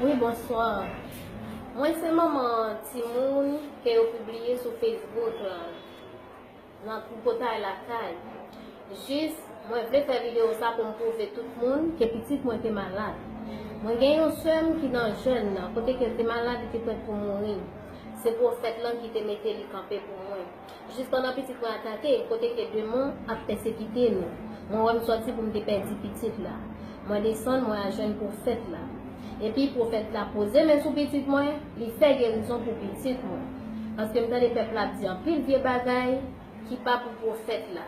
Wi bonsoir Mwen se manman timoun ke yo pibliye sou Facebook la nan tripotay lakay jis mwen vle fè video sa pou m pwouve tout moun ke pitit mwen te malad mwen gen yon sè m ki nan jèn nan kote ke l te malad li te prèt pou mouri se pwofèt lan ki te mete li kanpe pou mwen. Jis pandan pitit mwen atake, kote ke demon ap pèsekite nou, mwen wè m sòti pou m te pèdi pitit la. Mwen desann, mwen al jwenn pwofèt la. Epi, pwofèt la poze men sou pitit mwen, li fè gerizon pou pitit mwen. Paske m tande pèp la ap di anpil vye bagay ki pa pou pwofèt la.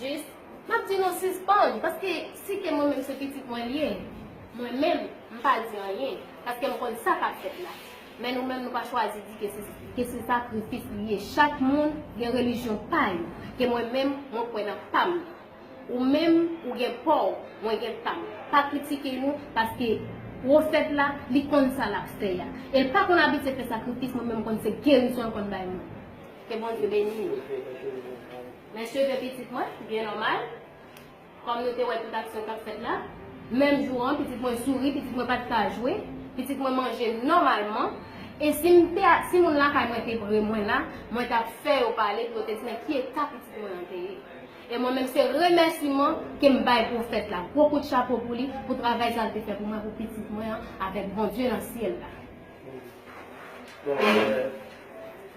Jis, m ap di nou sispann, paske si te mwen menm se pitit mwen l ye, mwen menm, m pa di anyen, paske m konn sa k ap fèt la. Men nou menm nou pa chwazi di ke se sakrifis li ye. Chak moun gen relijyon pa yo, ke mwen menm, mwen kwè nan pa m nan. Ou menm, ou gen pa w, mwen gen pa m. Pa kritike nou, paske pwofèt la, li konn sa l ap fè a. E l pa konn abitye fè sakrifis, mwen menm m konn se gerizon l konn bay moun. Ke Bondye beni nou. Men cheve pitit mwen, byen nòmal, kòm nou te wè tout aksyon kap fèt la. Menm jou an, pitit mwen souri, pitit mwen pat ka jwe, pitit mwen manje nòmalman. E si m te, si moun lakay mwen te pre mwen la, mwen tap fè yo pale pou yo te di men ki eta pitit mwen an te ye. E mwen menm se remèsiman ke m bay pwofèt la, gwo kout chapo pou li pou travay sa l te fè pou mwen, pou pitit mwen an avèk Bondye nan syèl la.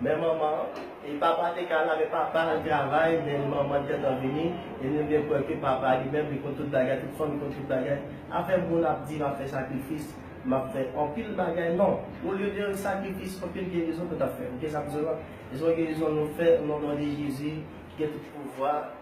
Men manman an, e papa te ka la men papa al travay men manman an t gentan vini e nou gen prèv ke papa li menm li konn tout bagay tout fanmi konn tout bagay afè moun ap di map fè sakrifis map fè anpil bagay non olye de sakrifis anpil gerizon nou tap fè ok sa m di w la se yon gerizon nou fè o non de jezi ki gen tout pouvwa.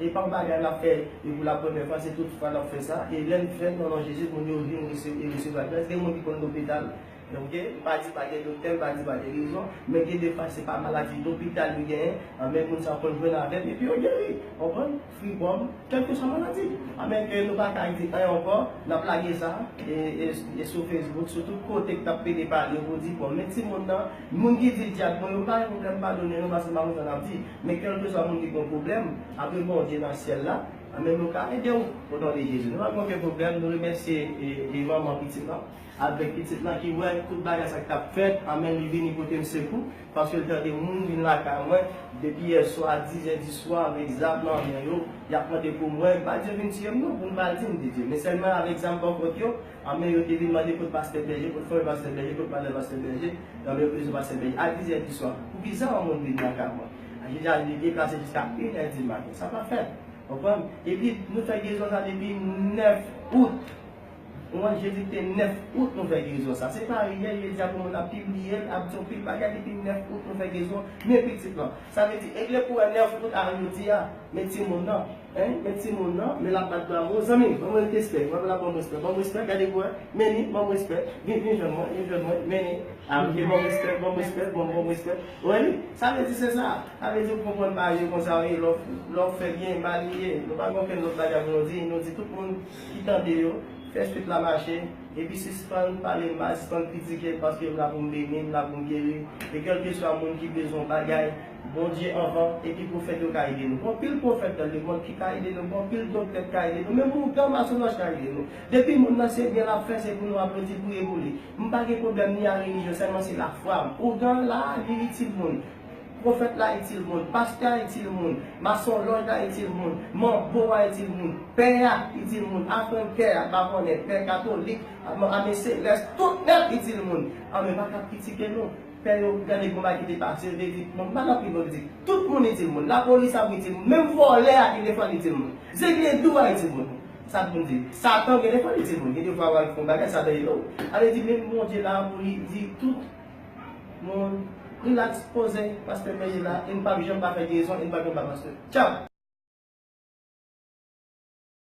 E pa bagay lap fè e pou la premyè fwa se tout fwa lap fè sa e lèn fèl nan non Jezi moun yo vin e resevwa gras gen moun ki konn lopital ok pa di pa gen doktè pa di pa gen rezon men gen de fwa se pa maladi lopital yo genyen anmè moun sa konn jwenn avèm epi yo geri konprann fripòm kèlkeswa maladi anmè ke nou pa ka di anyen ankò nap lage sa e sou facebook sou tout kote ki tap pede pale pou di bon men timoun nan moun ki di dyab bon yo pa gen problèm padone nou paske nou pa konn sa nap di. Men kèlkeswa moun ki gen yon pwoblèm, apre Bondye nan syèl la, anben nou ka ede w o non de Jezi. Nou pa gen oken pwoblèm, nou remèsye e manman pitit lan avèk pitit lan ki wè tout bagay sa ki t ap fèt, anben li vini pote m sekou, paske l tande moun vin lakay mwen depi yèswa dizè diswa avèk zam nan men yo, y ap mande pou mwen, m pa di yo vin tiye m non, pou m pa di m di di, men sèlman avèk zam bòkòt yo. Anmè yo te vin mande kot pastè bèje, kot fanmi pastè bèje, kot madanm pastè bèje, anmè yo bezwen pastè bèje a 10 è di swa. Pou kisa yon moun vin nan kay mwen? Jezi a di e pase jiska 1 è di maten. Sa pa fèt. Konprann? Epi nou fè gerizon sa depi 9 out. Konprann? Jezi te 9 out nou fè gerizon sa. Se pa yè, jodi a pou moun ap pibliye l, ap di yon pil bagay depi 9 out nou fè gerizon men pitit lan. Sa vle di, egle pou wè 9 out a jodi a men timoun nan. Anh men timoun nan, men lap bat bravo, zanmim banm rtspè, wap la banm respè, banm respè, gade bwè, men li, banm respè, vin vin jwenn mwen, vin jwenn mwen, men li, ah ok banm respè, banm respè, banm banm respè, wè li, sa vle di se sa, sa vle di ou konprann bagay yo konsa wi, lè ou, lè ou fè byen ba li ye, nou pa gen okenn lòt bagay pou nou di, nou di tout moun ki tande yo, fè swit la mache, epi sispann pale mal, sispann kritike, paske m la pou m beni, m la pou m geri, e kèlkeswa moun ki bezwen yon bagay. Bondye anvan epi pwofèt yo ka ede nou. Gon pil pwofèt nan lemond ki ka ede nou, gon pil doktè ki ka ede nou, menm ougan masonaj ka ede nou. Depi moun nan se byen lap fè se pou nou aplodi priye pou li. M pa gen pwoblèm ni a relijyon sèlman se lafwa m. Ougan an la a li itil moun, pwofèt la itil moun, pastè a itil moun, masonlòj la itil moun, manbo a itil moun, pè a itil moun, afrenkè a, pa konnen, pè katolik, ame selès, tout nèt itil moun. Ame pa ka kritike nou. Fè yo m tande konba ki te pase yo te di m pa nan prizon li di tout moun itil moun lapolis ap itil moun menm vòlè a gen defwa l itil moun zegle dou a itil moun sa pou m di satan gen defwa l itil moun gen defwa w al fè yon bagay satan ede w sa vle di menm bondye la pou li di tout moun relax poze pastè peye la e n pap janm pa fè gerison e n pap janm pa pastè tchao.